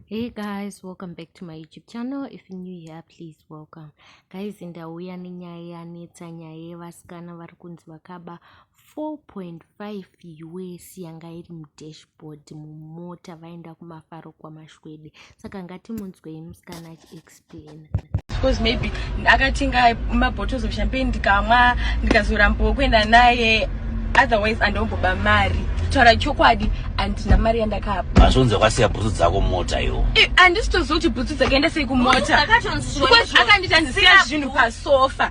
hey guys welcome back to my youtube channel if you're new here please welcome guys ndauya nenyaya yanetsa nyaya yevasikana vari kunzi vakaba 4.5 us yanga iri mudashboard mumota vaenda kumafaro kwamashwede saka ngatimunzwei musikana achiexp because maybe akatenga mabottles of champagne ndikamwa ndikazorambawo kuenda naye otherwise andomboba mari taura chokwadi andina mari yandakapa azvonzi kwasiya bhutsu dzako mota yo eh, andisitozoti bhutsu dzakaenda sei kumota akandita ndisiya zvinhu pasofa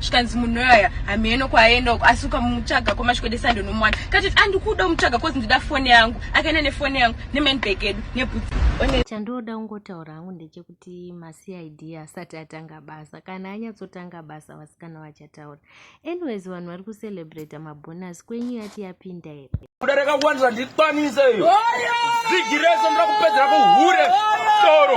zvikanzi munhu yoyaya hameno kwaaenda uko asi ukamutsvaga kwamasvikode sande unomuwana katiti andikuda umutsvaga kozi ndida foni yangu akaenda nefoni yangu nemanbag edu nebhutsi chandoda kungotaura hangu ndechekuti macid asati atanga basa kana anyatsotanga basa vasikana vachataura anyways vanhu vari kucelebrata mabhonus kwenyu yati yapinda here kuda rakakuwanisa ndikwanise iyo zigi rese ndoda kupedzera kuhure toro